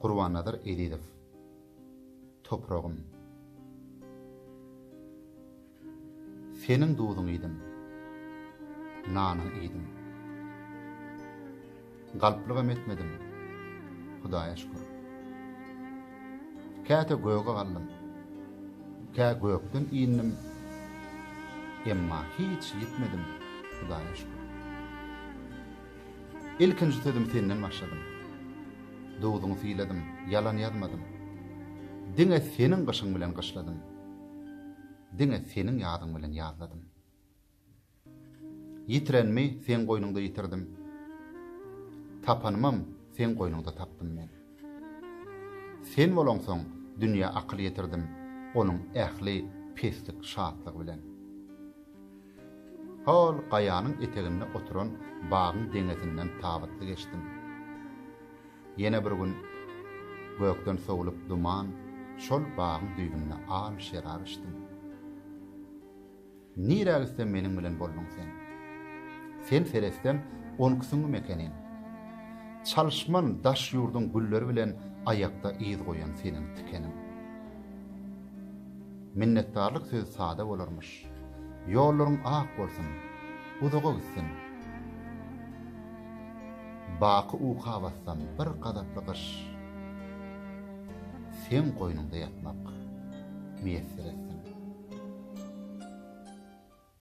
Gurbannazar Ezizow Topragym Seniň duzuň iýdim Nanyň iýdim Galplygam etmedim Hudaýa şükür Käte göge galdym Kä gökden indim Emma hiç ýitmedim Hudaýa şükür Ilkinji sözümi senden başladym. Dowzuňy syladym, ýalan ýazmadym. Diňe seniň gyşyň bilen gyşladym. Diňe seniň ýazyň bilen ýazladym. Ýitirenimi seň goýnuňda ýitirdim. Tapanymam seň goýnuňda tapdym men. Sen bolaňsoň, dünýä akyl ýetirdim, onuň ähli peslik şatlygy bilen. Hol gaýanyň eteginde oturan bagyň deňezinden tabytly geçdim. Ýene bir gün gökden sowlup duman, şol bagyň düýbünde al şerap içdim. Nirä gitsem meniň bilen bolduň sen. Sen seretsem onkisiňmi mekeniň. Çalyşman daş ýurduň gülleri bilen aýakda yz goýan seniň tikeniň. Minnetdarlyk sözi sada bolarmyş. Ýollaryň ak bolsun, uzaga gitsin. Baky uka bassam bir gazaply gyş. seň goýnuňda ýatmak miýesser etsin.